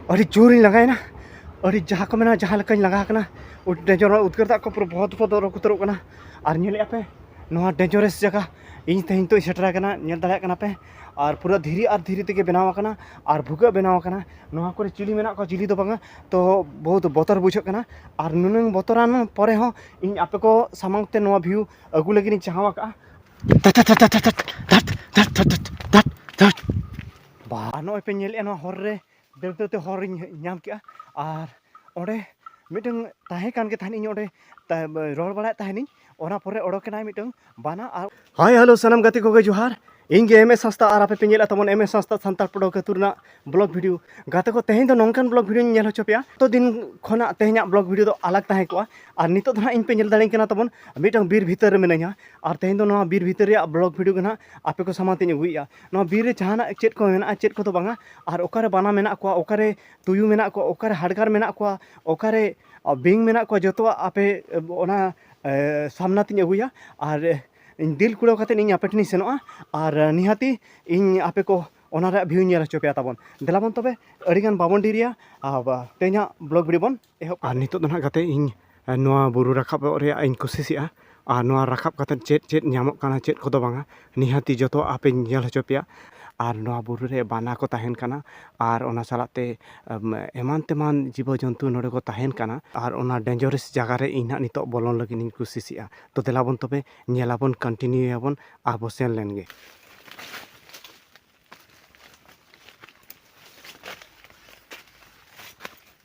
ᱟᱹᱰᱤ ᱡᱳᱨᱤᱧ ᱞᱟᱸᱜᱟᱭᱮᱱᱟ ᱟᱹᱰᱤ ᱡᱟᱦᱟᱸ ᱠᱚ ᱢᱮᱱᱟ ᱡᱟᱦᱟᱸ ᱞᱮᱠᱟᱧ ᱞᱟᱸᱜᱟ ᱟᱠᱟᱱᱟ ᱰᱮᱸᱡᱚᱨᱚᱜ ᱩᱫᱽᱜᱟᱹᱨ ᱫᱟᱜ ᱠᱚ ᱯᱩᱨᱟᱹ ᱵᱚᱦᱚᱛ ᱵᱚᱦᱚᱛ ᱚᱨᱚᱠ ᱩᱛᱟᱹᱨᱚᱜ ᱠᱟᱱᱟ ᱟᱨ ᱧᱮᱞᱮᱫᱼᱟ ᱯᱮ ᱱᱚᱣᱟ ᱰᱮᱸᱡᱚᱨᱮᱥ ᱡᱟᱭᱜᱟ ᱤᱧ ᱛᱮᱦᱮᱧ ᱱᱤᱛᱚᱜ ᱥᱮᱴᱮᱨ ᱟᱠᱟᱱᱟ ᱧᱮᱞ ᱫᱟᱲᱮᱭᱟᱜ ᱠᱟᱱᱟ ᱯᱮ ᱟᱨ ᱯᱩᱨᱟᱹ ᱫᱷᱤᱨᱤ ᱟᱨ ᱫᱷᱤᱨᱤ ᱛᱮᱜᱮ ᱵᱮᱱᱟᱣ ᱟᱠᱟᱱᱟ ᱟᱨ ᱵᱷᱩᱜᱟᱹᱜ ᱵᱮᱱᱟᱣ ᱟᱠᱟᱱᱟ ᱱᱚᱣᱟ ᱠᱚᱨᱮ ᱪᱤᱞᱤ ᱢᱮᱱᱟᱜ ᱠᱚᱣᱟ ᱪᱤᱞᱤ ᱫᱚ ᱵᱟᱝᱟ ᱛᱚ ᱵᱚᱦᱩᱛ ᱵᱚᱛᱚᱨ ᱵᱩᱡᱷᱟᱹᱜ ᱠᱟᱱᱟ ᱟᱨ ᱱᱩᱱᱟᱹᱝ ᱵᱚᱛᱚᱨᱟᱱ ᱯᱚᱨᱮ ᱦᱚᱸ ᱤᱧ ᱟᱯᱮ ᱠᱚ ᱥᱟᱢᱟᱝ ᱛᱮ ᱱᱚᱣᱟ ᱵᱷᱤᱭᱩ ᱟᱹᱜᱩ ᱞᱟᱹᱜᱤᱫ ᱤᱧ ᱪᱟᱦᱟᱣ ᱟᱠᱟᱫᱼᱟ ᱵᱟ ᱱᱚᱜᱼᱚᱭ ᱯᱮ ᱧᱮᱞᱮᱫᱼᱟ ᱱᱚᱣᱟ ᱦᱚᱨ ᱨᱮ ᱫᱟᱹᱲ ᱫᱟᱹᱲ ᱛᱮ ᱦᱚᱨᱤᱧ ᱧᱟᱢ ᱠᱮᱜᱼᱟ ᱟᱨ ᱚᱸᱰᱮ ᱢᱤᱫᱴᱟᱝ ᱛᱟᱦᱮᱸ ᱠᱟᱱ ᱜᱮ ᱛᱟᱦᱮᱱ ᱤᱧ ᱚᱸᱰᱮ ᱨᱚᱲ ᱵᱟᱲᱟᱭᱮᱫ ᱛᱟᱦᱮᱱᱤᱧ ᱚᱱᱟ ᱯᱚᱨᱮ ᱚᱰᱚᱠᱮᱱᱟᱭ ᱢᱤᱫᱴᱟᱝ ᱵᱟᱱᱟ ᱟᱨ ᱦᱟᱭ ᱦᱮᱞᱳ ᱥᱟᱱᱟᱢ ᱜᱟᱛᱮ ᱠᱚᱜᱮ ᱡᱚᱦᱟᱨ ᱤᱧ ᱜᱮ ᱮᱢ ᱮᱥ ᱦᱟᱸᱥᱫᱟ ᱟᱨ ᱟᱯᱮ ᱯᱮ ᱧᱮᱞᱮᱫ ᱛᱟᱵᱚᱱ ᱮᱢ ᱮᱥ ᱦᱟᱸᱥᱫᱟ ᱥᱟᱱᱛᱟᱲ ᱯᱚᱰᱚᱠ ᱟᱹᱛᱩ ᱨᱮᱱᱟᱜ ᱵᱞᱚᱜ ᱵᱷᱤᱰᱤᱭᱳ ᱜᱟᱛᱮ ᱠᱚ ᱛᱮᱦᱮᱧ ᱫᱚ ᱱᱚᱝᱠᱟᱱ ᱵᱞᱚᱜ ᱵᱷᱤᱰᱤᱭᱳᱧ ᱧᱮᱞ ᱦᱚᱪᱚ ᱯᱮᱭᱟ ᱛᱚ ᱫᱤᱱ ᱠᱷᱚᱱᱟᱜ ᱛᱮᱦᱮᱧᱟᱜ ᱵᱞᱚᱜ ᱵᱷᱤᱰᱤᱭᱳ ᱫᱚ ᱟᱞᱟᱜᱽ ᱛᱟᱦᱮᱸ ᱠᱚᱜᱼᱟ ᱟᱨ ᱱᱤᱛᱚᱜ ᱫᱚ ᱦᱟᱸᱜ ᱤᱧ ᱯᱮ ᱧᱮᱞ ᱫᱟᱲᱮᱧ ᱠᱟᱱᱟ ᱛᱟᱵᱚᱱ ᱢᱤᱫᱴᱟᱝ ᱵᱤᱨ ᱵᱷᱤᱛᱟᱹᱨ ᱨᱮ ᱢᱤᱱᱟᱹᱧᱟ ᱟᱨ ᱛᱮᱦᱮᱧ ᱫᱚ ᱱᱚᱣᱟ ᱵᱤᱨ ᱵᱷᱤᱛᱟᱹᱨ ᱨᱮᱭᱟᱜ ᱵᱞᱚᱜ ᱵᱷᱤᱰᱤᱭᱳ ᱜᱮ ᱦᱟᱸᱜ ᱟᱯᱮ ᱠᱚ ᱥᱟᱢᱟᱝ ᱛᱮᱧ ᱟᱹᱜᱩᱭᱮᱜᱼᱟ ᱱᱚᱣᱟ ᱵᱤᱨ ᱨᱮ ᱡᱟᱦᱟᱱᱟᱜ ᱪᱮᱫ ᱠᱚ ᱢᱮᱱᱟᱜᱼᱟ ᱪᱮᱫ ᱠᱚᱫᱚ ᱵᱟᱝᱟ ᱟᱨ ᱚᱠᱟᱨᱮ ᱵᱟᱱᱟ ᱢᱮᱱᱟᱜ ᱠᱚᱣᱟ ᱚᱠᱟᱨᱮ ᱛᱩᱭᱩ ᱢᱮᱱᱟᱜ ᱠᱚᱣᱟ ᱚᱠᱟᱨᱮ ᱦᱟᱰᱜᱟᱨ ᱢᱮᱱᱟᱜ ᱠᱚᱣᱟ ᱚᱠᱟᱨᱮ ᱵᱤᱧ ᱢᱮᱱᱟᱜ ᱠᱚᱣᱟ ᱡᱚᱛᱚᱣᱟᱜ ᱟᱯᱮ ᱚᱱᱟ ᱥᱟᱢᱱᱟ ᱛᱤᱧ ᱟᱹᱜᱩᱭᱟ ᱟᱨ ᱤᱧ ᱫᱤᱞ ᱠᱩᱲᱟᱹᱣ ᱠᱟᱛᱮᱫ ᱤᱧ ᱟᱯᱮ ᱴᱷᱮᱱᱤᱧ ᱥᱮᱱᱚᱜᱼᱟ ᱟᱨ ᱱᱤᱦᱟᱹᱛᱤ ᱤᱧ ᱟᱯᱮ ᱠᱚ ᱚᱱᱟ ᱨᱮᱭᱟᱜ ᱵᱷᱤᱭᱩᱧ ᱧᱮᱞ ᱦᱚᱪᱚ ᱯᱮᱭᱟ ᱛᱟᱵᱚᱱ ᱫᱮᱞᱟᱵᱚᱱ ᱛᱚᱵᱮ ᱟᱹᱰᱤᱜᱟᱱ ᱵᱟᱵᱚᱱ ᱰᱮᱨᱤᱭᱟ ᱟᱨ ᱛᱮᱦᱮᱧᱟᱜ ᱵᱞᱚᱜᱽ ᱵᱷᱤᱰᱤᱭᱳ ᱵᱚᱱ ᱮᱦᱚᱵ ᱟᱨ ᱱᱤᱛᱚᱜ ᱫᱚ ᱱᱟᱦᱟᱜ ᱜᱟᱛᱮ ᱤᱧ ᱱᱚᱣᱟ ᱵᱩᱨᱩ ᱨᱟᱠᱟᱵᱚᱜ ᱨᱮᱭᱟᱜ ᱤᱧ ᱠᱩᱥᱤᱥᱮᱜᱼᱟ ᱟᱨ ᱱᱚᱣᱟ ᱨᱟᱠᱟᱵ ᱠᱟᱛᱮ ᱪᱮᱫ ᱪᱮᱫ ᱧᱟᱢᱚᱜ ᱠᱟᱱᱟ ᱪᱮᱫ ᱠᱚᱫᱚ ᱵᱟᱝᱟ ᱱᱤᱦᱟᱹᱛᱤ ᱡᱚᱛᱚ ᱟᱯᱮᱧ ᱧᱮᱞ ᱦᱚᱪᱚ ᱯᱮᱭᱟ ᱟᱨ ᱱᱚᱣᱟ ᱵᱩᱨᱩ ᱨᱮ ᱵᱟᱱᱟ ᱠᱚ ᱛᱟᱦᱮᱱ ᱠᱟᱱᱟ ᱟᱨ ᱚᱱᱟ ᱥᱟᱞᱟᱜ ᱛᱮ ᱮᱢᱟᱱ ᱛᱮᱢᱟᱱ ᱡᱤᱵᱚ ᱡᱚᱱᱛᱩ ᱱᱚᱰᱮ ᱠᱚ ᱛᱟᱦᱮᱱ ᱠᱟᱱᱟ ᱟᱨ ᱚᱱᱟ ᱰᱮᱱᱡᱚᱨᱮᱥ ᱡᱟᱭᱜᱟ ᱨᱮ ᱤᱧ ᱦᱟᱜ ᱱᱤᱛᱚᱜ ᱵᱚᱞᱚᱱ ᱞᱟᱹᱜᱤᱫ ᱤᱧ ᱠᱩᱥᱤᱥᱮᱜᱼᱟ ᱛᱚ ᱫᱮᱞᱟ ᱵᱚᱱ ᱛᱚᱵᱮ ᱧᱮᱞ ᱟᱵᱚᱱ ᱠᱚᱱᱴᱤᱱᱤᱭᱩ ᱭᱟᱵᱚᱱ ᱟᱨ ᱵᱚᱱ ᱥᱮᱱ ᱞᱮᱱ ᱜᱮ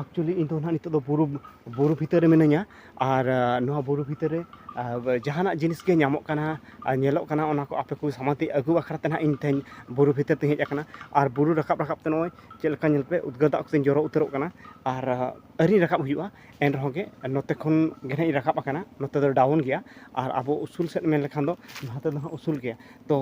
ᱮᱠᱪᱩᱭᱮᱞᱤ ᱤᱧ ᱫᱚ ᱱᱟᱦᱟᱜ ᱱᱤᱛᱚᱜ ᱫᱚ ᱵᱩᱨᱩ ᱵᱩᱨᱩ ᱵᱷᱤᱛᱟᱹᱨ ᱨᱮ ᱢᱤᱱᱟᱹᱧᱟ ᱟᱨ ᱱᱚᱣᱟ ᱵᱩᱨᱩ ᱵᱷᱤᱛᱟᱹᱨ ᱨᱮ ᱡᱟᱦᱟᱱᱟᱜ ᱡᱤᱱᱤᱥ ᱜᱮ ᱧᱟᱢᱚᱜ ᱠᱟᱱᱟ ᱟᱨ ᱧᱮᱞᱚᱜ ᱠᱟᱱᱟ ᱚᱱᱟ ᱠᱚ ᱟᱯᱮ ᱠᱚ ᱥᱟᱢᱟᱝ ᱛᱮ ᱟᱹᱜᱩ ᱵᱟᱠᱷᱨᱟ ᱛᱮ ᱱᱟᱦᱟᱜ ᱤᱧ ᱛᱮᱦᱮᱧ ᱵᱩᱨᱩ ᱵᱷᱤᱛᱟᱹᱨ ᱛᱤᱧ ᱦᱮᱡ ᱟᱠᱟᱱᱟ ᱟᱨ ᱵᱩᱨᱩ ᱨᱟᱠᱟᱵ ᱨᱟᱠᱟᱵ ᱛᱮ ᱱᱚᱜᱼᱚᱭ ᱪᱮᱫ ᱞᱮᱠᱟ ᱧᱮᱞ ᱯᱮ ᱩᱫᱽᱜᱟᱹᱨ ᱫᱟᱜ ᱠᱚᱛᱮᱧ ᱡᱚᱨᱚ ᱩᱛᱟᱹᱨᱚᱜ ᱠᱟᱱᱟ ᱟᱨ ᱟᱹᱣᱨᱤ ᱨᱟᱠᱟᱵ ᱦᱩᱭᱩᱜᱼᱟ ᱮᱱ ᱨᱮᱦᱚᱸ ᱜᱮ ᱱᱚᱛᱮ ᱠᱷᱚᱱ ᱜᱮ ᱦᱟᱸᱜ ᱤᱧ ᱨᱟᱠᱟᱵ ᱟᱠᱟᱱᱟ ᱱᱚᱛᱮ ᱫᱚ ᱰᱟᱣᱩᱱ ᱜᱮᱭᱟ ᱟᱨ ᱟᱵᱚ ᱩᱥᱩᱞ ᱥᱮᱫ ᱢᱮᱱ ᱞᱮᱠᱷᱟᱱ ᱫᱚ ᱱᱚᱛᱮ ᱫᱚ ᱦᱟᱸᱜ ᱩᱥᱩᱞ ᱜᱮᱭᱟ ᱛᱚ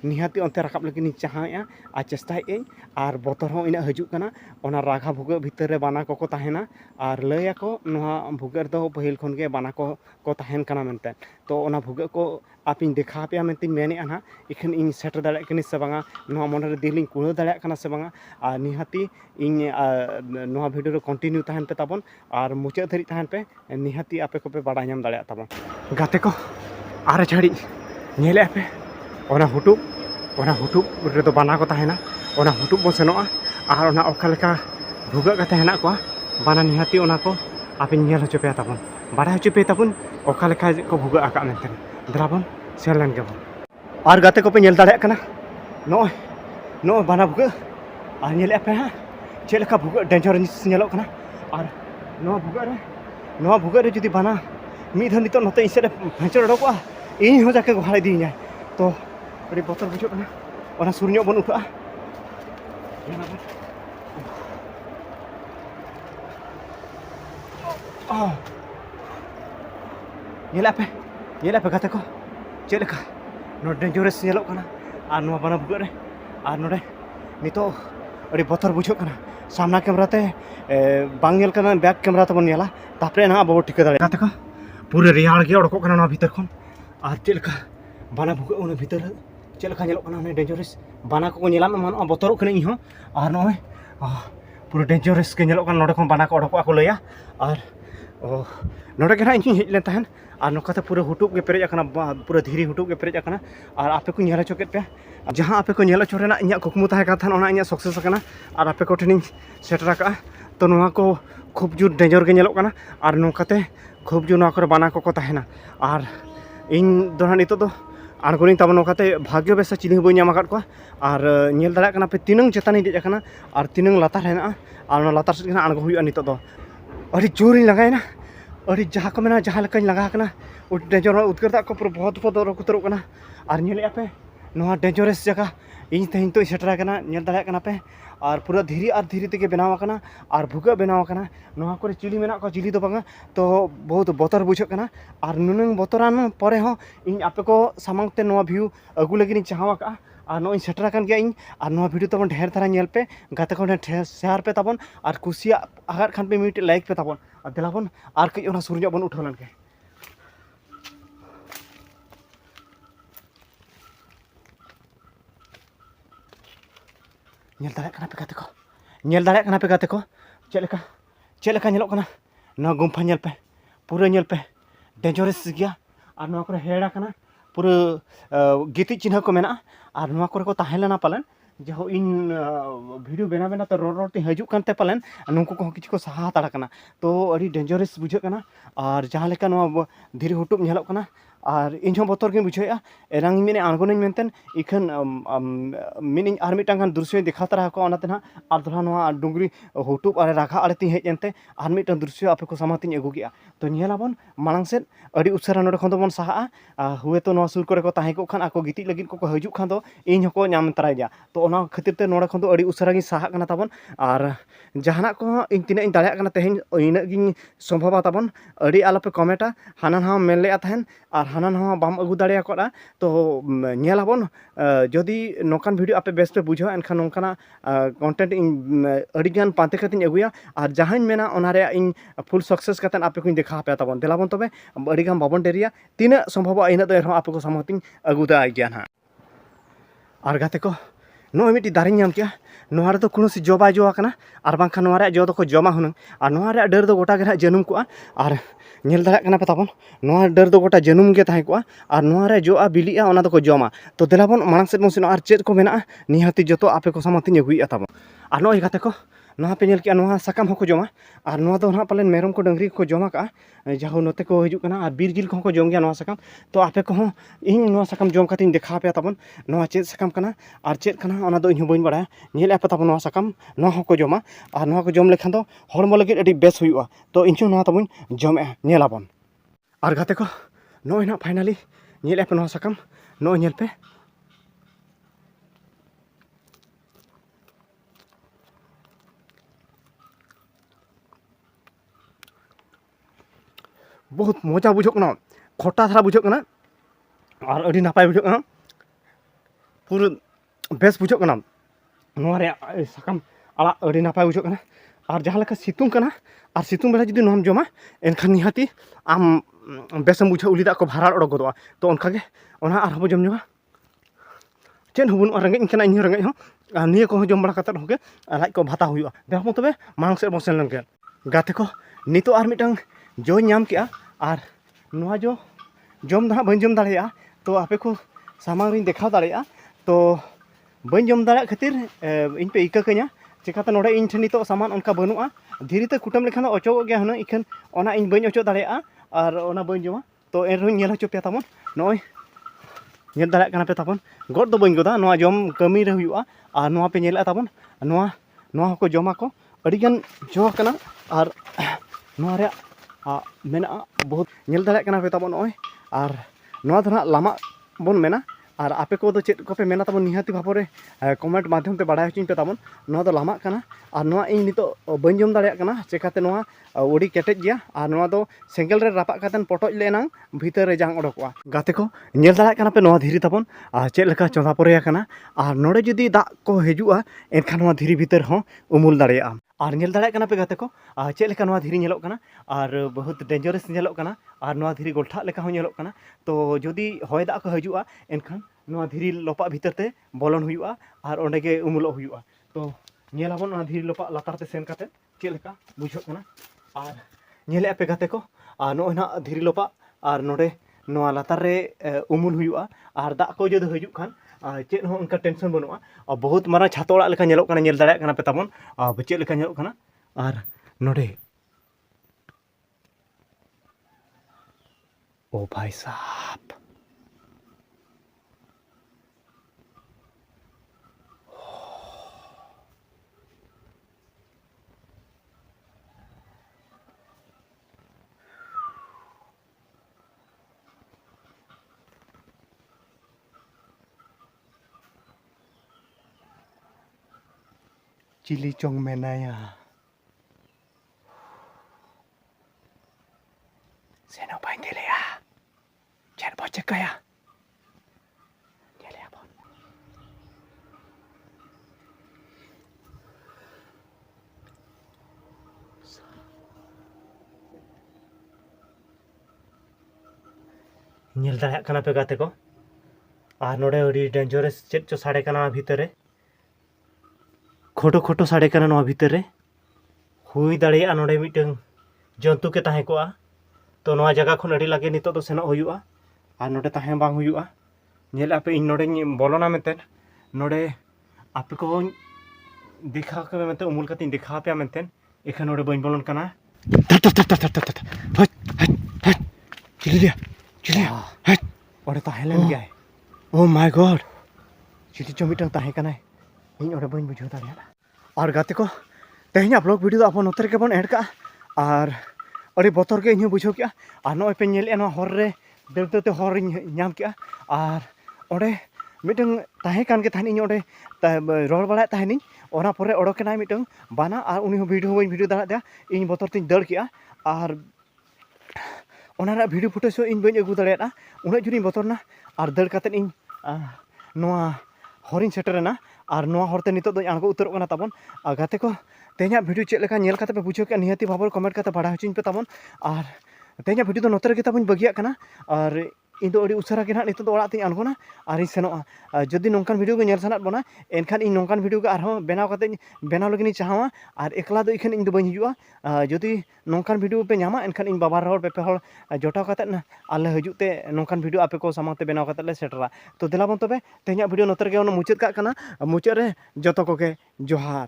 ᱱᱤᱦᱟᱹᱛ ᱜᱮ ᱚᱱᱛᱮ ᱨᱟᱠᱟᱵ ᱞᱟᱹᱜᱤᱫ ᱤᱧ ᱪᱟᱦᱟᱣᱮᱜᱼᱟ ᱟᱨ ᱪᱮᱥᱴᱟᱭᱮᱜ ᱟᱹᱧ ᱟᱨ ᱵᱚᱛᱚᱨ ᱦᱚᱸ ᱤᱱᱟᱹᱜ ᱦᱤᱡᱩᱜ ᱠᱟᱱᱟ ᱚᱱᱟ ᱨᱟᱜᱷᱟ ᱵᱷᱩᱜᱟᱹᱜ ᱵᱷᱤᱛᱤᱨ ᱨᱮ ᱵᱟᱱᱟ ᱠᱚᱠᱚ ᱛᱟᱦᱮᱱᱟ ᱟᱨ ᱞᱟᱹᱭ ᱟᱠᱚ ᱱᱚᱣᱟ ᱵᱷᱩᱜᱟᱹᱜ ᱨᱮᱫᱚ ᱯᱟᱹᱦᱤᱞ ᱠᱷᱚᱱ ᱜᱮ ᱵᱟᱱᱟ ᱠᱚ ᱛᱟᱦᱮᱱ ᱠᱟᱱᱟ ᱢᱮᱱᱛᱮ ᱛᱚ ᱚᱱᱟ ᱵᱷᱩᱜᱟᱹᱜ ᱠᱚ ᱟᱯᱮᱧ ᱫᱮᱠᱷᱟᱣ ᱟᱯᱮᱭᱟ ᱢᱮᱱᱛᱮᱧ ᱢᱮᱱᱮᱫᱼᱟ ᱱᱟᱦᱟᱜ ᱤᱠᱷᱟᱹᱱ ᱤᱧ ᱥᱮᱴᱮᱨ ᱫᱟᱲᱮᱭᱟᱜ ᱠᱟᱹᱱᱟᱹᱧ ᱥᱮ ᱵᱟᱝᱟ ᱱᱚᱣᱟ ᱢᱚᱱᱮᱨᱮ ᱫᱤᱞᱤᱧ ᱠᱩᱲᱟᱹᱣ ᱫᱟᱲᱮᱭᱟᱜ ᱠᱟᱱᱟ ᱥᱮ ᱵᱟᱝᱟ ᱟᱨ ᱱᱤᱦᱟᱹᱛᱤ ᱤᱧ ᱱᱚᱣᱟ ᱵᱷᱤᱰᱤᱭᱳ ᱨᱮ ᱠᱚᱱᱴᱤᱱᱤᱭᱩ ᱛᱟᱦᱮᱱ ᱯᱮ ᱛᱟᱵᱚᱱ ᱟᱨ ᱢᱩᱪᱟᱹᱫ ᱫᱷᱟᱹᱨᱤᱡ ᱛᱟᱦᱮᱱ ᱯᱮ ᱱᱤᱦᱟᱹᱛᱤ ᱟᱯᱮ ᱠᱚᱯᱮ ᱵᱟᱰᱟᱭ ᱧᱟᱢ ᱫᱟᱲᱮᱭᱟᱜ ᱛᱟᱵᱚᱱ ᱜᱟᱛᱮ ᱠᱚ ᱟᱨ ᱡᱷᱟᱹᱲᱤᱡ ᱧᱮᱞᱮᱫᱼᱟ ᱯᱮ ᱚᱱᱟ ᱦᱩᱴᱩᱵ ᱚᱱᱟ ᱦᱩᱴᱩᱵ ᱨᱮᱫᱚ ᱵᱟᱱᱟ ᱠᱚ ᱛᱟᱦᱮᱱᱟ ᱚᱱᱟ ᱦᱩᱴᱩᱵ ᱵᱚᱱ ᱥᱮᱱᱚᱜᱼᱟ ᱟᱨ ᱚᱱᱟ ᱚᱠᱟ ᱞᱮᱠᱟ ᱵᱷᱩᱜᱟᱹᱜ ᱠᱟᱛᱮ ᱦᱮᱱᱟᱜ ᱠᱚᱣᱟ ᱵᱟᱱᱟ ᱱᱤᱦᱟᱹᱛᱤ ᱚᱱᱟ ᱠᱚ ᱟᱯᱮᱧ ᱧᱮᱞ ᱦᱚᱪᱚ ᱯᱮᱭᱟ ᱛᱟᱵᱚᱱ ᱵᱟᱲᱟᱭ ᱦᱚᱪᱚ ᱯᱮ ᱛᱟᱵᱚᱱ ᱚᱠᱟ ᱞᱮᱠᱟ ᱠᱚ ᱵᱷᱩᱜᱟᱹᱜ ᱟᱠᱟᱫ ᱢᱮᱱᱛᱮ ᱫᱮᱞᱟ ᱵᱚᱱ ᱥᱮᱱ ᱞᱮᱱ ᱜᱮᱵᱚᱱ ᱟᱨ ᱜᱟᱛᱮ ᱠᱚᱯᱮ ᱧᱮᱞ ᱫᱟᱲᱮᱭᱟᱜ ᱠᱟᱱᱟ ᱱᱚᱜᱼᱚᱭ ᱱᱚᱜᱼᱚᱭ ᱵᱟᱱᱟ ᱵᱷᱩᱜᱟᱹᱜ ᱟᱨ ᱧᱮᱞᱮᱫᱼᱟ ᱯᱮ ᱦᱟᱸᱜ ᱪᱮᱫ ᱞᱮᱠᱟ ᱵᱷᱩᱜᱟᱹᱜ ᱰᱮᱧᱡᱟᱨᱮᱥ ᱧᱮᱞᱚᱜ ᱠᱟᱱᱟ ᱟᱨ ᱱᱚᱣᱟ ᱵᱷᱩᱜᱟᱹᱜ ᱨᱮ ᱱᱚᱣᱟ ᱵᱷᱩᱜᱟᱹᱜ ᱨᱮ ᱡᱩᱫᱤ ᱵᱟᱱᱟ ᱢᱤᱫ ᱫᱷᱟᱣ ᱱᱤᱛᱚᱜ ᱱᱚᱛᱮ ᱤᱧ ᱥᱮᱫ ᱯᱷᱮᱸᱪᱚᱲ ᱚᱰᱚᱠᱚᱜᱼᱟ ᱤᱧ ᱦᱚᱸ ᱡᱟᱠᱮ ᱜᱚᱦᱟᱲ ᱤᱫᱤᱧᱟᱭ ᱛᱚ ᱟᱹᱰᱤ ᱵᱚᱛᱚᱨ ᱵᱩᱡᱷᱟᱹᱜ ᱠᱟᱱᱟ ᱚᱱᱟ ᱥᱩᱨ ᱧᱚᱜ ᱵᱚᱱ ᱩᱴᱷᱟᱹᱜᱼᱟ ᱧᱮᱞᱮᱫᱼᱟ ᱯᱮ ᱧᱮᱞᱮᱫᱼᱟ ᱯᱮ ᱜᱟᱛᱮ ᱠᱚ ᱪᱮᱫ ᱞᱮᱠᱟ ᱱᱚᱣᱟ ᱰᱮᱱᱡᱟᱨᱮᱥ ᱧᱮᱞᱚᱜ ᱠᱟᱱᱟ ᱟᱨ ᱱᱚᱣᱟ ᱵᱟᱱᱟ ᱵᱷᱩᱜᱟᱹᱜ ᱨᱮ ᱟᱨ ᱱᱚᱰᱮ ᱱᱤᱛᱚᱜ ᱟᱹᱰᱤ ᱵᱚᱛᱚᱨ ᱵᱩᱡᱷᱟᱹᱜ ᱠᱟᱱᱟ ᱥᱟᱢᱱᱟ ᱠᱮᱢᱮᱨᱟ ᱛᱮ ᱵᱟᱝ ᱧᱮᱞ ᱠᱟᱱᱟ ᱵᱮᱠ ᱠᱮᱢᱮᱨᱟ ᱛᱮᱵᱚᱱ ᱧᱮᱞᱟ ᱛᱟᱯᱚᱨᱮ ᱱᱟᱦᱟᱜ ᱵᱟᱵᱚ ᱴᱷᱤᱠᱟᱹ ᱫᱟᱲᱮᱭᱟᱜᱼᱟ ᱜᱟᱛᱮ ᱠᱚ ᱯᱩᱨᱟᱹ ᱨᱮᱭᱟᱲ ᱜᱮ ᱚᱰᱚᱠᱚᱜ ᱠᱟᱱᱟ ᱱᱚᱣᱟ ᱵᱷᱤᱛᱟᱹᱨ ᱠᱷᱚᱱ ᱟᱨ ᱪᱮᱫ ᱞᱮᱠᱟ ᱵᱟᱱᱟ ᱵᱷᱩᱜᱟᱹᱜ ᱚᱱᱟ ᱵᱷᱤᱛᱟᱹᱨ ᱨᱮ ᱪᱮᱫ ᱞᱮᱠᱟ ᱧᱮᱞᱚᱜ ᱠᱟᱱᱟ ᱚᱱᱟ ᱰᱮᱱᱡᱟᱨᱮᱥ ᱵᱟᱱᱟ ᱠᱚᱠᱚ ᱧᱮᱞᱟᱢ ᱮᱢᱟᱱᱚᱜᱼᱟ ᱵᱚᱛᱚᱨᱚᱜ ᱠᱟᱹᱱᱟᱹᱧ ᱤᱧ ᱦᱚᱸ ᱟᱨ ᱱᱚᱜᱼᱚᱭ ᱯᱩᱨᱟᱹ ᱰᱮᱧᱡᱟᱨᱮᱥ ᱜᱮ ᱧᱮᱞᱚᱜ ᱠᱟᱱᱟ ᱱᱚᱰᱮ ᱠᱷᱚᱱ ᱵᱟᱱᱟ ᱠᱚ ᱚᱰᱚᱠᱚᱜᱼᱟ ᱠᱚ ᱞᱟᱹᱭᱟ ᱟᱨ ᱱᱚᱰᱮ ᱜᱮ ᱱᱟᱦᱟᱜ ᱤᱧ ᱦᱮᱡ ᱞᱮᱱ ᱛᱟᱦᱮᱸᱫ ᱟᱨ ᱱᱚᱝᱠᱟᱛᱮ ᱯᱩᱨᱟᱹ ᱦᱩᱴᱩᱵ ᱜᱮ ᱯᱮᱨᱮᱡ ᱟᱠᱟᱱᱟ ᱯᱩᱨᱟᱹ ᱫᱷᱤᱨᱤ ᱦᱩᱴᱩᱵ ᱜᱮ ᱯᱮᱨᱮᱡ ᱟᱠᱟᱱᱟ ᱟᱨ ᱟᱯᱮ ᱠᱚ ᱧᱮᱞ ᱦᱚᱪᱚ ᱠᱮᱫ ᱯᱮᱭᱟ ᱡᱟᱦᱟᱸ ᱟᱯᱮ ᱠᱚ ᱧᱮᱞ ᱦᱚᱪᱚ ᱨᱮᱱᱟᱜ ᱤᱧᱟᱹᱜ ᱠᱩᱠᱢᱩ ᱛᱟᱦᱮᱸ ᱠᱟᱱ ᱛᱟᱦᱮᱸᱫ ᱚᱱᱟ ᱤᱧᱟᱹᱜ ᱥᱟᱠᱥᱮᱥ ᱟᱠᱟᱱᱟ ᱟᱨ ᱟᱯᱮ ᱠᱚ ᱴᱷᱮᱱᱤᱧ ᱥᱮᱴᱮᱨ ᱟᱠᱟᱫᱼᱟ ᱛᱚ ᱱᱚᱣᱟ ᱠᱚ ᱠᱷᱩᱵᱽ ᱡᱳᱨ ᱰᱮᱧᱡᱟᱨ ᱜᱮ ᱧᱮᱞᱚᱜ ᱠᱟᱱᱟ ᱟᱨ ᱱᱚᱝᱠᱟᱛᱮ ᱠᱷᱩᱵᱽ ᱡᱳᱨ ᱱᱚᱣᱟ ᱠᱚᱨᱮ ᱵᱟᱱᱟ ᱠᱚᱠᱚ ᱛᱟᱦᱮᱱᱟ ᱟᱨ ᱤᱧ ᱫᱚ ᱱᱟᱦᱟᱜ ᱱᱤᱛᱚᱜ ᱫᱚ ᱟᱬᱜᱚᱱᱟᱹᱧ ᱛᱟᱵᱚᱱ ᱱᱚᱝᱠᱟᱛᱮ ᱵᱷᱟᱜᱽᱜᱚ ᱵᱮᱥ ᱪᱤᱞᱤ ᱦᱚᱸ ᱵᱟᱹᱧ ᱧᱟᱢ ᱟᱠᱟᱫ ᱠᱚᱣᱟ ᱟᱨ ᱧᱮᱞ ᱫᱟᱲᱮᱭᱟᱜ ᱠᱟᱱᱟᱯᱮ ᱛᱤᱱᱟᱹᱝ ᱪᱮᱛᱟᱱᱤᱧ ᱫᱮᱡ ᱟᱠᱟᱱᱟ ᱟᱨ ᱛᱤᱱᱟᱹᱝ ᱞᱟᱛᱟᱨ ᱨᱮ ᱦᱮᱱᱟᱜᱼᱟ ᱟᱨ ᱚᱱᱟ ᱞᱟᱛᱟᱨ ᱥᱮᱫ ᱜᱮ ᱦᱟᱸᱜ ᱟᱬᱜᱚ ᱦᱩᱭᱩᱜᱼᱟ ᱱᱤᱛᱚᱜ ᱫᱚ ᱟᱹᱰᱤ ᱡᱳᱨᱤᱧ ᱞᱟᱸᱜᱟᱭᱮᱱᱟ ᱟᱹᱰᱤ ᱡᱟᱦᱟᱸ ᱠᱚ ᱢᱮᱱᱟ ᱡᱟᱦᱟᱸ ᱞᱮᱠᱟᱧ ᱞᱟᱸᱜᱟ ᱟᱠᱟᱱᱟ ᱟᱹᱰᱤ ᱰᱮᱧᱡᱚᱨᱚᱥ ᱩᱫᱽᱜᱟᱹᱨ ᱫᱟᱜ ᱠᱚ ᱯᱩᱨᱟᱹ ᱵᱚᱦᱚᱜ ᱛᱚᱯᱟᱜ ᱚᱰᱚᱠ ᱩᱛᱟᱹᱨᱚᱜ ᱠᱟᱱᱟ ᱟᱨ ᱧᱮᱞᱮᱫᱼᱟ ᱯᱮ ᱱᱚᱣᱟ ᱰᱮᱧᱡᱚᱨᱮᱥ ᱡᱟᱭᱜᱟ ᱤᱧ ᱛᱮᱦᱮᱧ ᱱᱤᱛᱚᱜ ᱤᱧ ᱥᱮᱴᱮᱨ ᱟᱠᱟᱱᱟ ᱧᱮᱞ ᱫᱟᱲᱮᱭᱟᱜ ᱠᱟᱱᱟ ᱯᱮ ᱟᱨ ᱯᱩᱨᱟᱹ ᱫᱷᱤᱨᱤ ᱟᱨ ᱫᱷᱤᱨᱤ ᱛᱮᱜᱮ ᱵᱮᱱᱟᱣ ᱟᱠᱟᱱᱟ ᱟᱨ ᱵᱷᱩᱜᱟᱹᱜ ᱵᱮᱱᱟᱣ ᱟᱠᱟᱱᱟ ᱱᱚᱣᱟ ᱠᱚᱨᱮ ᱪᱤᱞᱤ ᱢᱮᱱᱟᱜ ᱠᱚᱣᱟ ᱪᱤᱞᱤ ᱫᱚ ᱵᱟᱝᱟ ᱛᱚ ᱵᱚᱦᱩᱫ ᱵᱚᱛᱚᱨ ᱵᱩᱡᱷᱟᱹᱜ ᱠᱟᱱᱟ ᱟᱨ ᱱᱩᱱᱟᱹᱝ ᱵᱚᱛᱚᱨᱟᱱ ᱯᱚᱨᱮ ᱦᱚᱸ ᱤᱧ ᱟᱯᱮ ᱠᱚ ᱥᱟᱢᱟᱝ ᱛᱮ ᱱᱚᱣᱟ ᱵᱷᱤᱭᱩ ᱟᱹᱜᱩ ᱞᱟᱹᱜᱤᱫ ᱤᱧ ᱪᱟᱦᱟᱣ ᱟᱠᱟᱫᱼᱟ ᱟᱨ ᱱᱚᱜᱼᱚᱭ ᱥᱮᱴᱮᱨ ᱟᱠᱟᱱ ᱜᱮᱭᱟ ᱤᱧ ᱟᱨ ᱱᱚᱣᱟ ᱵᱷᱤᱰᱭᱳ ᱛᱟᱵᱚᱱ ᱰᱷᱮᱨ ᱫᱷᱟᱨᱟ ᱧᱮᱞ ᱯᱮ ᱜᱟᱛᱮ ᱠᱚ ᱴᱷᱮᱱ ᱰᱷᱮᱨ ᱥᱮᱭᱟᱨ ᱯᱮ ᱛᱟᱵᱚᱱ ᱟᱨ ᱠᱩᱥᱤᱭᱟᱜ ᱟᱠᱟᱫ ᱠᱷᱟᱱ ᱯᱮ ᱢᱤᱫᱴᱮᱡ ᱞᱟᱭᱤᱠ ᱯᱮ ᱛᱟᱵᱚᱱ ᱟᱨ ᱫᱮᱞᱟ ᱵᱚᱱ ᱟᱨ ᱠᱟᱹᱡ ᱚᱱᱟ ᱥᱩᱨ ᱧᱚᱜ ᱵᱚᱱ ᱩᱴᱷᱟᱹᱣ ᱞᱮᱱᱜᱮ ᱧᱮᱞ ᱫᱟᱲᱮᱭᱟᱜ ᱠᱟᱱᱟ ᱯᱮ ᱜᱟᱛᱮ ᱠᱚ ᱧᱮᱞ ᱫᱟᱲᱮᱭᱟᱜ ᱠᱟᱱᱟ ᱯᱮ ᱜᱟᱛᱮ ᱠᱚ ᱪᱮᱫ ᱞᱮᱠᱟ ᱪᱮᱫ ᱞᱮᱠᱟ ᱧᱮᱞᱚᱜ ᱠᱟᱱᱟ ᱱᱚᱣᱟ ᱜᱩᱢᱯᱷᱟ ᱧᱮᱞ ᱯᱮ ᱯᱩᱨᱟᱹ ᱧᱮᱞ ᱯᱮ ᱰᱮᱱᱡᱟᱨᱮᱥ ᱜᱮᱭᱟ ᱟᱨ ᱱᱚᱣᱟ ᱠᱚᱨᱮ ᱦᱮᱲ ᱠᱟᱱᱟ ᱯᱩᱨᱟᱹ ᱜᱤᱛᱤᱡ ᱪᱤᱱᱦᱟᱹ ᱠᱚ ᱢᱮᱱᱟᱜᱼᱟ ᱟᱨ ᱱᱚᱣᱟ ᱠᱚᱨᱮ ᱠᱚ ᱛᱟᱦᱮᱸ ᱞᱮᱱᱟ ᱯᱟᱞᱮᱱ ᱡᱟᱭᱦᱳᱠ ᱤᱧ ᱵᱷᱤᱰᱭᱳ ᱵᱮᱱᱟᱣ ᱵᱮᱱᱟᱣ ᱛᱮ ᱨᱚᱲ ᱨᱚᱲ ᱛᱤᱧ ᱦᱤᱡᱩᱜ ᱠᱟᱱᱛᱮ ᱯᱟᱞᱮᱱ ᱱᱩᱠᱩ ᱠᱚᱦᱚᱸ ᱠᱤᱪᱷᱩ ᱠᱚ ᱥᱟᱦᱟ ᱦᱟᱛᱟᱲ ᱠᱟᱱᱟ ᱛᱳ ᱟᱹᱰᱤ ᱰᱮᱱᱡᱟᱨᱮᱥ ᱵᱩᱡᱷᱟᱹᱜ ᱠᱟᱱᱟ ᱟᱨ ᱡᱟᱦᱟᱸ ᱞᱮᱠᱟ ᱱᱚᱣᱟ ᱫᱷᱤᱨᱤ ᱦᱩᱴᱩᱜ ᱧᱮᱞᱚᱜ ᱠᱟᱱᱟ ᱟᱨ ᱤᱧ ᱦᱚᱸ ᱵᱚᱛᱚᱨ ᱜᱤᱧ ᱵᱩᱡᱷᱟᱹᱣ ᱮᱜᱼᱟ ᱮᱱᱟᱝ ᱤᱧ ᱢᱮᱱᱮᱫ ᱟᱬᱜᱚᱱᱟᱹᱧ ᱢᱮᱱᱛᱮ ᱤᱠᱷᱟᱹᱱ ᱢᱮᱱᱮᱫ ᱟᱹᱧ ᱟᱨ ᱢᱤᱫᱴᱟᱝ ᱜᱟᱱ ᱫᱨᱤᱥᱥᱚᱧ ᱫᱮᱠᱷᱟᱣ ᱛᱟᱨᱟ ᱟᱠᱚᱣᱟ ᱚᱱᱟᱛᱮ ᱦᱟᱸᱜ ᱟᱨ ᱫᱚᱲᱦᱟ ᱱᱚᱣᱟ ᱰᱩᱝᱨᱤ ᱦᱩᱴᱩᱜ ᱟᱲᱮ ᱨᱟᱠᱷᱟ ᱟᱲᱮ ᱛᱤᱧ ᱦᱮᱡ ᱮᱱᱛᱮ ᱟᱨ ᱢᱤᱫᱴᱟᱝ ᱫᱨᱤᱥᱥᱚ ᱟᱯᱮ ᱠᱚ ᱥᱟᱢᱟᱝ ᱛᱤᱧ ᱟᱹᱜᱩ ᱠᱮᱜᱼᱟ ᱛᱚ ᱧᱮᱞ ᱟᱵᱚᱱ ᱢᱟᱲᱟᱝ ᱥᱮᱫ ᱟᱹᱰᱤ ᱩᱥᱟᱹᱨᱟ ᱱᱚᱰᱮ ᱠᱷᱚᱱ ᱫᱚᱵᱚᱱ ᱥᱟᱦᱟᱜᱼᱟ ᱟᱨ ᱦᱳᱭ ᱛᱚ ᱱᱚᱣᱟ ᱥᱩᱨ ᱠᱚᱨᱮ ᱠᱚ ᱛᱟᱦᱮᱸ ᱠᱚᱜ ᱠᱷᱟᱱ ᱟᱠᱚ ᱜᱤᱛᱤᱡ ᱞᱟᱹᱜᱤᱫ ᱠᱚᱠᱚ ᱦᱤᱡᱩᱜ ᱠᱷᱟᱱ ᱫᱚ ᱤᱧ ᱦᱚᱸᱠᱚ ᱧᱟᱢ ᱛᱟᱨᱟᱧᱟ ᱛᱚ ᱚᱱᱟ ᱠᱷᱟᱹᱛᱤᱨ ᱛᱮ ᱱᱚᱰᱮ ᱠᱷᱚᱱ ᱫᱚ ᱟᱹᱰᱤ ᱩᱥᱟᱹᱨᱟ ᱜᱤᱧ ᱥᱟᱦᱟᱜ ᱠᱟᱱᱟ ᱛᱟᱵᱚᱱ ᱟᱨ ᱡᱟᱦᱟᱱᱟᱜ ᱠᱚᱦᱚᱸ ᱤᱧ ᱛᱤᱱᱟᱹᱜ ᱤᱧ ᱫᱟᱲᱮᱭᱟᱜ ᱠᱟᱱᱟ ᱛᱮᱦᱮᱧ ᱤᱱᱟᱹᱜ ᱜᱤᱧ ᱥᱚᱢᱵᱷᱚᱵᱟ ᱛᱟᱵᱚᱱ ᱟᱹᱰᱤ ᱟᱞᱚᱯᱮ ᱠᱚᱢᱮᱱᱴᱟ ᱦᱟᱱᱟ ᱱᱟᱣᱟᱢ ᱢᱮᱱ ᱞᱮᱫᱼᱟ ᱛᱟᱦᱮᱱ ᱟᱨ ᱦᱟᱱᱟ ᱱᱟᱣᱟ ᱵᱟᱢ ᱟᱹᱜᱩ ᱫᱟᱲᱮᱭᱟᱠᱟᱫᱼᱟ ᱛᱚ ᱧᱮᱞᱟᱵᱚᱱ ᱡᱩᱫᱤ ᱱᱚᱝᱠᱟᱱ ᱵᱷᱤᱰᱤᱭᱳ ᱟᱯᱮ ᱵᱮᱥ ᱯᱮ ᱵᱩᱡᱷᱟᱹᱣᱟ ᱮᱱᱠᱷᱟᱱ ᱱᱚᱝᱠᱟᱱᱟᱜ ᱠᱚᱱᱴᱮᱱᱴ ᱤᱧ ᱟᱹᱰᱤᱜᱟᱱ ᱯᱟᱱᱛᱮ ᱠᱟᱛᱮᱧ ᱟᱹᱜᱩᱭᱟ ᱟᱨ ᱡᱟᱦᱟᱸᱧ ᱢᱮᱱᱟ ᱚᱱᱟ ᱨᱮᱭᱟᱜ ᱤᱧ ᱯᱷᱩᱞ ᱥᱟᱠᱥᱮᱥ ᱠᱟᱛᱮᱫ ᱟᱯᱮ ᱠᱚᱧ ᱫᱮᱠᱷᱟᱣ ᱟᱯᱮᱭᱟ ᱛᱟᱵᱚᱱ ᱫᱮᱞᱟᱵᱚᱱ ᱛᱚᱵᱮ ᱟᱹᱰᱤᱜᱟᱱ ᱵᱟᱵᱚᱱ ᱰᱮᱨᱤᱭᱟ ᱛᱤᱱᱟᱹᱜ ᱥᱚᱢᱵᱷᱚᱵᱚᱜᱼᱟ ᱤᱱᱟᱹᱜ ᱫᱚ ᱮᱱᱨᱮᱦᱚᱸ ᱟᱯᱮ ᱠᱚ ᱥᱟᱢᱟᱝ ᱛᱤᱧ ᱟᱹᱜᱩ ᱫᱟᱲᱮᱭᱟᱜ ᱜᱮᱭᱟ ᱱᱟᱦᱟᱜ ᱟᱨ ᱜᱟᱛᱮ ᱠᱚ ᱱᱚᱜᱼᱚᱭ ᱢᱤᱫᱴᱤᱡ ᱫᱟᱨᱮᱧ ᱧᱟᱢ ᱠᱮᱜᱼᱟ ᱱᱚᱣᱟ ᱨᱮᱫᱚ ᱠᱳᱱᱳ ᱡᱚ ᱵᱟᱭ ᱡᱚ ᱟᱠᱟᱱᱟ ᱟᱨ ᱵᱟᱝᱠᱷᱟᱱ ᱱᱚᱣᱟ ᱨᱮᱭᱟᱜ ᱡᱚ ᱫᱚᱠᱚ ᱡᱚᱢᱟ ᱦᱩᱱᱟᱹᱝ ᱟᱨ ᱱᱚᱣᱟ ᱨᱮᱭᱟᱜ ᱰᱟᱹᱨ ᱫᱚ ᱜᱚᱴᱟ ᱜᱮ ᱦᱟᱸᱜ ᱡᱟᱹᱱᱩᱢ ᱠᱚᱜᱼᱟ ᱟᱨ ᱧᱮᱞ ᱫᱟᱲᱮᱭᱟᱜ ᱠᱟᱱᱟ ᱯᱮ ᱛᱟᱵᱚᱱ ᱱᱚᱣᱟ ᱰᱟᱹᱨ ᱫᱚ ᱜᱚᱴᱟ ᱡᱟᱹᱱᱩᱢ ᱜᱮ ᱛᱟᱦᱮᱸ ᱠᱚᱜᱼᱟ ᱟᱨ ᱱᱚᱣᱟ ᱨᱮ ᱡᱚᱜᱼᱟ ᱵᱤᱞᱤᱜᱼᱟ ᱚᱱᱟ ᱫᱚᱠᱚ ᱡᱚᱢᱟ ᱛᱚ ᱫᱮᱞᱟ ᱵᱚᱱ ᱢᱟᱲᱟᱝ ᱥᱮᱫ ᱵᱚᱱ ᱥᱮᱱᱚᱜᱼᱟ ᱟᱨ ᱪᱮᱫ ᱠᱚ ᱢᱮᱱᱟᱜᱼᱟ ᱱᱤᱦᱟᱹᱛᱤ ᱡᱚᱛᱚ ᱟᱯᱮ ᱠᱚ ᱥᱟᱢᱟᱝ ᱛᱤᱧ ᱟᱹᱜᱩᱭᱮᱜᱼᱟ ᱛᱟᱵᱚᱱ ᱟᱨ ᱱᱚᱜᱼᱚᱭ ᱜᱟᱛᱮ ᱠᱚ ᱱᱚᱣᱟ ᱯᱮ ᱧᱮᱞ ᱠᱮᱜᱼᱟ ᱱᱚᱣᱟ ᱥᱟᱠᱟᱢ ᱦᱚᱸᱠᱚ ᱡᱚᱢᱟ ᱟᱨ ᱱᱚᱣᱟ ᱫᱚ ᱦᱟᱸᱜ ᱯᱟᱞᱮᱱ ᱢᱮᱨᱚᱢ ᱠᱚ ᱰᱟᱹᱝᱨᱤ ᱠᱚᱠᱚ ᱡᱚᱢ ᱠᱟᱜᱼᱟ ᱡᱟᱦᱳ ᱱᱚᱛᱮ ᱠᱚ ᱦᱤᱡᱩᱜ ᱠᱟᱱᱟ ᱟᱨ ᱵᱤᱨ ᱡᱤᱞ ᱠᱚᱦᱚᱸ ᱠᱚ ᱡᱚᱢ ᱜᱮᱭᱟ ᱱᱚᱣᱟ ᱥᱟᱠᱟᱢ ᱛᱚ ᱟᱯᱮ ᱠᱚᱦᱚᱸ ᱤᱧ ᱱᱚᱣᱟ ᱥᱟᱠᱟᱢ ᱡᱚᱢ ᱠᱟᱛᱮᱧ ᱫᱮᱠᱷᱟᱣ ᱯᱮᱭᱟ ᱛᱟᱵᱚᱱ ᱱᱚᱣᱟ ᱪᱮᱫ ᱥᱟᱠᱟᱢ ᱠᱟᱱᱟ ᱟᱨ ᱪᱮᱫ ᱠᱟᱱᱟ ᱚᱱᱟ ᱫᱚ ᱤᱧ ᱦᱚᱸ ᱵᱟᱹᱧ ᱵᱟᱲᱟᱭᱟ ᱧᱮᱞ ᱟᱯᱮ ᱛᱟᱵᱚᱱ ᱱᱚᱣᱟ ᱥᱟᱠᱟᱢ ᱱᱚᱣᱟ ᱦᱚᱸᱠᱚ ᱡᱚᱢᱟ ᱟᱨ ᱱᱚᱣᱟ ᱠᱚ ᱡᱚᱢ ᱞᱮᱠᱷᱟᱱ ᱫᱚ ᱦᱚᱲᱢᱚ ᱞᱟᱹᱜᱤᱫ ᱟᱹᱰᱤ ᱵᱮᱥ ᱦᱩᱭᱩᱜᱼᱟ ᱛᱚ ᱤᱧ ᱦᱚᱸ ᱱᱚᱣᱟ ᱛᱟᱵᱚᱱ ᱡᱚᱢᱮᱜᱼᱟ ᱧᱮᱞ ᱟᱵᱚᱱ ᱟᱨ ᱜᱟᱛᱮ ᱠᱚ ᱱᱚᱜᱼᱚᱭ ᱱᱟᱜ ᱯᱷᱟᱭᱱᱟᱞᱤ ᱧᱮᱞᱮᱜᱼᱟ ᱯᱮ ᱱᱚᱣᱟ ᱥᱟᱠᱟᱢ ᱱᱚᱜᱼᱚᱭ ᱧᱮᱞ ᱯᱮ ᱵᱚᱦᱩᱛ ᱢᱚᱡᱟ ᱵᱩᱡᱷᱟᱹᱜ ᱠᱟᱱᱟ ᱠᱷᱚᱴᱟ ᱫᱷᱟᱨᱟ ᱵᱩᱡᱷᱟᱹᱜ ᱠᱟᱱᱟ ᱟᱨ ᱟᱹᱰᱤ ᱱᱟᱯᱟᱭ ᱵᱩᱡᱷᱟᱹᱜ ᱠᱟᱱᱟ ᱯᱩᱨᱟᱹ ᱵᱮᱥ ᱵᱩᱡᱷᱟᱹᱜ ᱠᱟᱱᱟ ᱱᱚᱣᱟ ᱨᱮᱭᱟᱜ ᱥᱟᱠᱟᱢ ᱟᱲᱟᱜ ᱟᱹᱰᱤ ᱱᱟᱯᱟᱭ ᱵᱩᱡᱷᱟᱹᱜ ᱠᱟᱱᱟ ᱟᱨ ᱡᱟᱦᱟᱸ ᱞᱮᱠᱟ ᱥᱤᱛᱩᱝ ᱠᱟᱱᱟ ᱟᱨ ᱥᱤᱛᱩᱝ ᱵᱮᱲᱟ ᱡᱩᱫᱤ ᱱᱚᱣᱟᱢ ᱡᱚᱢᱟ ᱮᱱᱠᱷᱟᱱ ᱱᱤᱦᱟᱹᱛᱤ ᱟᱢ ᱵᱮᱥᱮᱢ ᱵᱩᱡᱷᱟᱹᱣᱟ ᱩᱞᱤ ᱫᱟᱜ ᱠᱚ ᱵᱷᱟᱨᱟᱲ ᱚᱰᱚᱠ ᱜᱚᱫᱚᱜᱼᱟ ᱛᱚ ᱚᱱᱠᱟᱜᱮ ᱚᱱᱟ ᱟᱨᱦᱚᱸ ᱵᱚᱱ ᱡᱚᱢ ᱧᱚᱜᱟ ᱪᱮᱫ ᱦᱚᱸ ᱵᱟᱹᱱᱩᱜᱼᱟ ᱨᱮᱸᱜᱮᱡ ᱤᱧ ᱠᱟᱱᱟ ᱤᱧ ᱦᱚᱸ ᱨᱮᱸᱜᱮᱡ ᱦᱚᱸ ᱟᱨ ᱱᱤᱭᱟᱹ ᱠᱚᱦᱚᱸ ᱡᱚᱢ ᱵᱟᱲᱟ ᱠᱟᱛᱮ ᱜᱮ ᱞᱟᱡ ᱠᱚ ᱵᱷᱟᱛᱟᱣ ᱦᱩᱭᱩᱜᱼᱟ ᱫᱮᱞᱟ ᱵᱚᱱ ᱛᱚᱵᱮ ᱢᱟᱲᱟᱝ ᱥᱮᱫ ᱵᱚᱱ ᱥᱮᱱ ᱞᱮᱱᱜᱮ ᱜᱟᱛᱮ ᱠᱚ ᱱᱤᱛᱚᱜ ᱟᱨ ᱢᱤᱫᱴᱟᱝ ᱡᱚᱧ ᱧᱟᱢ ᱠᱮᱜᱼᱟ ᱟᱨ ᱱᱚᱣᱟ ᱡᱚ ᱡᱚᱢ ᱫᱚ ᱦᱟᱸᱜ ᱵᱟᱹᱧ ᱡᱚᱢ ᱫᱟᱲᱮᱭᱟᱜᱼᱟ ᱛᱚ ᱟᱯᱮ ᱠᱚ ᱥᱟᱢᱟᱝ ᱨᱤᱧ ᱫᱮᱠᱷᱟᱣ ᱫᱟᱲᱮᱭᱟᱜᱼᱟ ᱛᱚ ᱵᱟᱹᱧ ᱡᱚᱢ ᱫᱟᱲᱮᱭᱟᱜ ᱠᱷᱟᱹᱛᱤᱨ ᱤᱧ ᱯᱮ ᱤᱠᱟᱹ ᱠᱟᱹᱧᱟ ᱪᱤᱠᱟᱹᱛᱮ ᱱᱚᱰᱮ ᱤᱧ ᱴᱷᱮᱱ ᱱᱤᱛᱚᱜ ᱥᱟᱢᱟᱱ ᱚᱱᱠᱟ ᱵᱟᱹᱱᱩᱜᱼᱟ ᱫᱷᱤᱨᱤ ᱛᱮ ᱠᱩᱴᱟᱹᱢ ᱞᱮᱠᱷᱟᱱ ᱫᱚ ᱚᱪᱚᱜᱚᱜ ᱜᱮᱭᱟ ᱦᱩᱱᱟᱹᱝ ᱤᱠᱷᱟᱹᱱ ᱚᱱᱟ ᱤᱧ ᱵᱟᱹᱧ ᱚᱪᱚᱜ ᱫᱟᱲᱮᱭᱟᱜᱼᱟ ᱟᱨ ᱚᱱᱟ ᱵᱟᱹᱧ ᱡᱚᱢᱟ ᱛᱚ ᱮᱱᱨᱮᱦᱚᱸᱧ ᱧᱮᱞ ᱦᱚᱪᱚ ᱯᱮᱭᱟ ᱛᱟᱵᱚᱱ ᱱᱚᱜᱼᱚᱭ ᱧᱮᱞ ᱫᱟᱲᱮᱭᱟᱜ ᱠᱟᱱᱟ ᱯᱮ ᱛᱟᱵᱚᱱ ᱜᱚᱫ ᱫᱚ ᱵᱟᱹᱧ ᱜᱚᱫᱟ ᱱᱚᱣᱟ ᱡᱚᱢ ᱠᱟᱹᱢᱤᱨᱮ ᱦᱩᱭᱩᱜᱼᱟ ᱟᱨ ᱱᱚᱣᱟ ᱯᱮ ᱧᱮᱞᱮᱫᱼᱟ ᱛᱟᱵᱚᱱ ᱱᱚᱣᱟ ᱱᱚᱣᱟ ᱦᱚᱸᱠᱚ ᱡᱚᱢᱟᱠᱚ ᱟᱹᱰᱤᱜᱟᱱ ᱡᱚ ᱠᱟᱱᱟ ᱟᱨ ᱱᱚᱣᱟ ᱨᱮᱭᱟᱜ ᱢᱮᱱᱟᱜᱼᱟ ᱵᱚᱦᱩᱛ ᱧᱮᱞ ᱫᱟᱲᱮᱭᱟᱜ ᱠᱟᱱᱟ ᱯᱮ ᱛᱟᱵᱚᱱ ᱱᱚᱜᱼᱚᱭ ᱟᱨ ᱱᱚᱣᱟ ᱫᱚ ᱦᱟᱸᱜ ᱞᱟᱢᱟᱜ ᱵᱚᱱ ᱢᱮᱱᱟ ᱟᱨ ᱟᱯᱮ ᱠᱚᱫᱚ ᱪᱮᱫ ᱠᱚᱯᱮ ᱢᱮᱱᱟ ᱛᱟᱵᱚᱱ ᱱᱤᱦᱟᱹᱛᱤ ᱵᱷᱟᱵᱚ ᱨᱮ ᱠᱚᱢᱮᱱᱴ ᱢᱟᱫᱷᱭᱚᱢ ᱛᱮ ᱵᱟᱲᱟᱭ ᱦᱚᱪᱚᱧ ᱯᱮ ᱛᱟᱵᱚᱱ ᱱᱚᱣᱟ ᱫᱚ ᱞᱟᱢᱟᱜ ᱠᱟᱱᱟ ᱟᱨ ᱱᱚᱣᱟ ᱤᱧ ᱱᱤᱛᱚᱜ ᱵᱟᱹᱧ ᱡᱚᱢ ᱫᱟᱲᱮᱭᱟᱜ ᱠᱟᱱᱟ ᱪᱮᱠᱟᱛᱮ ᱱᱚᱣᱟ ᱟᱹᱰᱤ ᱠᱮᱴᱮᱡ ᱜᱮᱭᱟ ᱟᱨ ᱱᱚᱣᱟ ᱫᱚ ᱥᱮᱸᱜᱮᱞ ᱨᱮ ᱨᱟᱯᱟᱜ ᱠᱟᱛᱮ ᱯᱚᱴᱚᱡ ᱞᱮ ᱮᱱᱟᱝ ᱵᱷᱤᱛᱟᱹᱨ ᱨᱮ ᱡᱟᱝ ᱚᱰᱚᱠᱚᱜᱼᱟ ᱜᱟᱛᱮ ᱠᱚ ᱧᱮᱞ ᱫᱟᱲᱮᱭᱟᱜ ᱠᱟᱱᱟ ᱯᱮ ᱱᱚᱣᱟ ᱫᱷᱤᱨᱤ ᱛᱟᱵᱚᱱ ᱟᱨ ᱪᱮᱫ ᱞᱮᱠᱟ ᱪᱚᱸᱫᱟ ᱯᱚᱨᱮ ᱟᱠᱟᱱᱟ ᱟᱨ ᱱᱚᱰᱮ ᱡᱩᱫᱤ ᱫᱟᱜ ᱠᱚ ᱦᱤᱡᱩᱜᱼᱟ ᱮᱱᱠᱷᱟᱱ ᱱᱚᱣᱟ ᱫᱷᱤᱨᱤ ᱵᱷᱤᱛᱟᱹᱨ ᱦᱚᱸ ᱩᱢᱩᱞ ᱫᱟᱲᱮᱭᱟᱜᱼᱟ ᱟᱨ ᱧᱮᱞ ᱫᱟᱲᱮᱭᱟᱜ ᱠᱟᱱᱟ ᱯᱮ ᱜᱟᱛᱮ ᱠᱚ ᱟᱨ ᱪᱮᱫ ᱞᱮᱠᱟ ᱱᱚᱣᱟ ᱫᱷᱤᱨᱤ ᱧᱮᱞᱚᱜ ᱠᱟᱱᱟ ᱟᱨ ᱵᱚᱦᱩᱛ ᱰᱮᱱᱡᱟᱨᱮᱥ ᱧᱮᱞᱚᱜ ᱠᱟᱱᱟ ᱟᱨ ᱱᱚᱣᱟ ᱫᱷᱤᱨᱤ ᱜᱚᱞᱴᱷᱟᱜ ᱞᱮᱠᱟ ᱦᱚᱸ ᱧᱮᱞᱚᱜ ᱠᱟᱱᱟ ᱛᱚ ᱡᱩᱫᱤ ᱦᱚᱭ ᱫᱟᱜ ᱠᱚ ᱦᱤᱡᱩᱜᱼᱟ ᱮᱱᱠᱷᱟᱱ ᱱᱚᱣᱟ ᱫᱷᱤᱨᱤ ᱞᱚᱯᱟᱜ ᱵᱷᱤᱛᱟᱹᱨ ᱛᱮ ᱵᱚᱞᱚᱱ ᱦᱩᱭᱩᱜᱼᱟ ᱟᱨ ᱚᱸᱰᱮ ᱜᱮ ᱩᱢᱩᱞᱚᱜ ᱦᱩᱭᱩᱜᱼᱟ ᱛᱚ ᱧᱮᱞ ᱟᱵᱚᱱ ᱚᱱᱟ ᱫᱷᱤᱨᱤ ᱞᱚᱯᱟᱜ ᱞᱟᱛᱟᱨ ᱛᱮ ᱥᱮᱱ ᱠᱟᱛᱮ ᱪᱮᱫ ᱞᱮᱠᱟ ᱵᱩᱡᱷᱟᱹᱜ ᱠᱟᱱᱟ ᱟᱨ ᱧᱮᱞᱮᱫᱼᱟ ᱯᱮ ᱜᱟᱛᱮ ᱠᱚ ᱟᱨ ᱱᱚᱜᱼᱚᱭ ᱱᱟᱦᱟᱜ ᱫᱷᱤᱨᱤ ᱞᱚᱯᱟᱜ ᱟᱨ ᱱᱚᱰᱮ ᱱᱚᱣᱟ ᱞᱟᱛᱟᱨ ᱨᱮ ᱩᱢᱩᱞ ᱦᱩᱭᱩᱜᱼᱟ ᱟᱨ ᱫᱟᱜ ᱠᱚ ᱡᱩᱫᱤ ᱦᱤᱡᱩᱜ ᱠᱷᱟᱱ ᱪᱮᱫ ᱦᱚᱸ ᱚᱱᱠᱟ ᱴᱮᱱᱥᱚᱱ ᱵᱟᱹᱱᱩᱜᱼᱟ ᱟᱨ ᱵᱚᱦᱩᱫ ᱢᱟᱨᱟᱝ ᱪᱷᱟᱛᱟ ᱚᱲᱟᱜ ᱞᱮᱠᱟ ᱧᱮᱞᱚᱜ ᱠᱟᱱᱟ ᱧᱮᱞ ᱫᱟᱲᱮᱭᱟᱜ ᱠᱟᱱᱟ ᱯᱮ ᱛᱟᱵᱚᱱ ᱟᱨ ᱪᱮᱫ ᱞᱮᱠᱟ ᱧᱮᱞᱚᱜ ᱠᱟᱱᱟ ᱟᱨ ᱱᱚᱰᱮ ᱳ ᱵᱷᱟᱭ ᱥᱟᱦᱟᱵ ᱪᱤᱞᱤ ᱪᱚᱝ ᱢᱮᱱᱟᱭᱟ ᱥᱮᱱᱚᱜ ᱵᱟᱹᱧ ᱫᱟᱲᱮᱭᱟᱜᱼᱟ ᱪᱮᱫ ᱵᱚ ᱪᱤᱠᱟᱹᱭᱟ ᱧᱮᱞ ᱫᱟᱲᱮᱭᱟᱜ ᱠᱟᱱᱟ ᱯᱮ ᱜᱟᱛᱮ ᱠᱚ ᱟᱨ ᱱᱚᱰᱮ ᱟᱹᱰᱤ ᱰᱮᱧᱡᱚᱨᱮᱥ ᱪᱮᱫ ᱪᱚ ᱥᱟᱰᱮ ᱠᱟᱱᱟ ᱵᱷᱤᱛᱟᱹᱨ ᱨᱮ ᱠᱷᱳᱴᱳ ᱠᱷᱳᱴᱳ ᱥᱟᱰᱮ ᱠᱟᱱᱟ ᱱᱚᱣᱟ ᱵᱷᱤᱛᱟᱹᱨ ᱨᱮ ᱦᱩᱭ ᱫᱟᱲᱮᱭᱟᱜᱼᱟ ᱱᱚᱰᱮ ᱢᱤᱫᱴᱟᱹᱝ ᱡᱚᱱᱛᱩᱠᱮ ᱛᱟᱦᱮᱸ ᱠᱚᱜᱼᱟ ᱛᱚ ᱱᱚᱣᱟ ᱡᱟᱭᱜᱟ ᱠᱷᱚᱱ ᱟᱹᱰᱤ ᱞᱟᱜᱮ ᱱᱤᱛᱚᱜ ᱫᱚ ᱥᱮᱱᱚᱜ ᱦᱩᱭᱩᱜᱼᱟ ᱟᱨ ᱱᱚᱰᱮ ᱛᱟᱦᱮᱸ ᱵᱟᱝ ᱦᱩᱭᱩᱜᱼᱟ ᱧᱮᱞᱮᱫᱼᱟ ᱯᱮ ᱤᱧ ᱱᱚᱰᱮᱧ ᱵᱚᱞᱚᱱᱟ ᱢᱮᱱᱛᱮ ᱱᱚᱰᱮ ᱟᱯᱮ ᱠᱚᱦᱚᱸᱧ ᱫᱮᱠᱷᱟᱣ ᱯᱮ ᱢᱮᱱᱛᱮ ᱩᱢᱩᱞ ᱠᱟᱛᱮᱧ ᱫᱮᱠᱷᱟᱣ ᱯᱮᱭᱟ ᱢᱮᱱᱛᱮ ᱮᱠᱷᱟᱱ ᱱᱚᱰᱮ ᱵᱟᱹᱧ ᱵᱚᱞᱚᱱ ᱠᱟᱱᱟ ᱪᱤᱞᱤᱭᱟ ᱪᱤᱞᱤᱭᱟ ᱚᱸᱰᱮ ᱛᱟᱦᱮᱸ ᱞᱮᱱ ᱜᱮᱭᱟᱭ ᱳ ᱢᱟᱭ ᱜᱚᱰ ᱪᱤᱞᱤ ᱪᱚ ᱢᱤᱫᱴᱟᱝ ᱛᱟᱦᱮᱸ ᱠᱟᱱᱟᱭ ᱤᱧ ᱚᱸᱰᱮ ᱵᱟᱹᱧ ᱵᱩᱡᱷᱟᱹᱣ ᱫᱟᱲᱮᱭᱟᱫᱟ ᱟᱨ ᱜᱟᱛᱮ ᱠᱚ ᱛᱮᱦᱮᱧᱟᱜ ᱵᱞᱚᱜ ᱵᱷᱤᱰᱤᱭᱳ ᱫᱚ ᱟᱵᱚ ᱱᱚᱛᱮ ᱨᱮᱜᱮ ᱵᱚᱱ ᱮᱰ ᱠᱟᱜᱼᱟ ᱟᱨ ᱟᱹᱰᱤ ᱵᱚᱛᱚᱨ ᱜᱮ ᱤᱧᱦᱚᱸ ᱵᱩᱡᱷᱟᱹᱣ ᱠᱮᱜᱼᱟ ᱟᱨ ᱱᱚᱜᱼᱚᱭ ᱯᱮ ᱧᱮᱞᱮᱜᱼᱟ ᱱᱚᱣᱟ ᱦᱚᱨ ᱨᱮ ᱫᱟᱹᱲ ᱫᱟᱹᱲᱛᱮ ᱦᱚᱨᱤᱧ ᱧᱟᱢ ᱠᱮᱜᱼᱟ ᱟᱨ ᱚᱸᱰᱮ ᱢᱤᱫᱴᱟᱝ ᱛᱟᱦᱮᱸ ᱠᱟᱱ ᱜᱮ ᱛᱟᱦᱮᱱ ᱤᱧ ᱚᱸᱰᱮ ᱨᱚᱲ ᱵᱟᱲᱟᱭᱮᱫ ᱛᱟᱦᱮᱱᱤᱧ ᱚᱱᱟ ᱯᱚᱨᱮ ᱚᱰᱚᱠᱮᱱᱟᱭ ᱢᱤᱫᱴᱟᱝ ᱵᱟᱱᱟ ᱟᱨ ᱩᱱᱤ ᱦᱚᱸ ᱵᱷᱤᱰᱤᱭᱳ ᱦᱚᱸ ᱵᱟᱹᱧ ᱵᱷᱤᱰᱤᱭᱳ ᱫᱟᱲᱮᱭᱟᱫᱮᱭᱟ ᱤᱧ ᱵᱚᱛᱚᱨ ᱛᱤᱧ ᱫᱟᱹᱲ ᱠᱮᱜᱼᱟ ᱟᱨ ᱚᱱᱟ ᱨᱮᱱᱟᱜ ᱵᱷᱤᱰᱤᱭᱳ ᱯᱷᱩᱴᱮᱡᱽ ᱦᱚᱸ ᱤᱧ ᱵᱟᱹᱧ ᱟᱹᱜᱩ ᱫᱟᱲᱮᱭᱟᱫᱟ ᱩᱱᱟᱹᱜ ᱡᱳᱨᱤᱧ ᱵᱚᱛᱚᱨᱮᱱᱟ ᱟᱨ ᱫᱟᱹᱲ ᱠᱟᱛᱮᱫ ᱤᱧ ᱱᱚᱣᱟ ᱦᱚᱨᱤᱧ ᱥᱮᱴᱮᱨᱮᱱᱟ ᱟᱨ ᱱᱚᱣᱟ ᱦᱚᱨᱛᱮ ᱱᱤᱛᱚᱜ ᱫᱚᱧ ᱟᱬᱜᱚ ᱩᱛᱟᱹᱨᱚᱜ ᱠᱟᱱᱟ ᱛᱟᱵᱚᱱ ᱟᱨ ᱜᱟᱛᱮ ᱠᱚ ᱛᱮᱦᱮᱧᱟᱜ ᱵᱷᱤᱰᱤᱭᱳ ᱪᱮᱫ ᱞᱮᱠᱟ ᱧᱮᱞ ᱠᱟᱛᱮᱫ ᱯᱮ ᱵᱩᱡᱷᱟᱹᱣ ᱠᱮᱫᱼᱟ ᱱᱤᱦᱟᱹᱛᱤ ᱵᱷᱟᱵᱮ ᱠᱚᱢᱮᱱᱴ ᱠᱟᱛᱮᱫ ᱵᱟᱲᱟᱭ ᱦᱚᱪᱚᱧ ᱯᱮ ᱛᱟᱵᱚᱱ ᱟᱨ ᱛᱮᱦᱮᱧᱟᱜ ᱵᱷᱤᱰᱤᱭᱳ ᱫᱚ ᱱᱚᱛᱮ ᱨᱮᱜᱮ ᱛᱟᱵᱚᱧ ᱵᱟᱹᱜᱤᱭᱟᱜ ᱠᱟᱱᱟ ᱟᱨ ᱤᱧ ᱫᱚ ᱟᱹᱰᱤ ᱩᱥᱟᱹᱨᱟ ᱜᱮ ᱱᱟᱦᱟᱜ ᱱᱤᱛᱚᱜ ᱫᱚ ᱚᱲᱟᱜ ᱛᱮᱧ ᱟᱬᱜᱚᱱᱟ ᱟᱨᱤᱧ ᱥᱮᱱᱚᱜᱼᱟ ᱟᱨ ᱡᱩᱫᱤ ᱱᱚᱝᱠᱟᱱ ᱵᱷᱤᱰᱭᱳ ᱜᱮ ᱧᱮᱞ ᱥᱟᱱᱟᱭᱮᱫ ᱵᱚᱱᱟ ᱮᱱᱠᱷᱟᱱ ᱤᱧ ᱱᱚᱝᱠᱟᱱ ᱵᱷᱤᱰᱭᱳ ᱜᱮ ᱟᱨᱦᱚᱸ ᱵᱮᱱᱟᱣ ᱠᱟᱛᱮ ᱤᱧ ᱵᱮᱱᱟᱣ ᱞᱟᱹᱜᱤᱫ ᱤᱧ ᱪᱟᱦᱟᱣᱟ ᱟᱨ ᱮᱠᱞᱟ ᱫᱚ ᱤᱠᱷᱟᱹᱱ ᱤᱧ ᱫᱚ ᱵᱟᱹᱧ ᱦᱤᱡᱩᱜᱼᱟ ᱟᱨ ᱡᱩᱫᱤ ᱱᱚᱝᱠᱟᱱ ᱵᱷᱤᱰᱭᱳ ᱯᱮ ᱧᱟᱢᱟ ᱮᱱᱠᱷᱟᱱ ᱤᱧ ᱵᱟᱵᱟ ᱦᱚᱲ ᱵᱮᱴᱟ ᱦᱚᱲ ᱡᱚᱴᱟᱣ ᱠᱟᱛᱮ ᱟᱞᱮ ᱦᱤᱡᱩᱜ ᱛᱮ ᱱᱚᱝᱠᱟᱱ ᱵᱷᱤᱰᱭᱳ ᱟᱯᱮ ᱠᱚ ᱥᱟᱢᱟᱝ ᱛᱮ ᱵᱮᱱᱟᱣ ᱠᱟᱛᱮ ᱞᱮ ᱥᱮᱴᱮᱨᱟ ᱛᱚ ᱫᱮᱞᱟ ᱵᱚᱱ ᱛᱚᱵᱮ ᱛᱮᱦᱮᱧᱟᱜ ᱵᱷᱤᱰᱭᱳ ᱱᱚᱛᱮ ᱨᱮᱜᱮ ᱢᱩᱪᱟᱹᱫ ᱠᱟᱜ ᱠᱟᱱᱟ ᱢᱩᱪᱟᱹᱫ ᱨᱮ ᱡᱚᱛᱚ ᱠᱚᱜᱮ ᱡᱚᱦᱟᱨ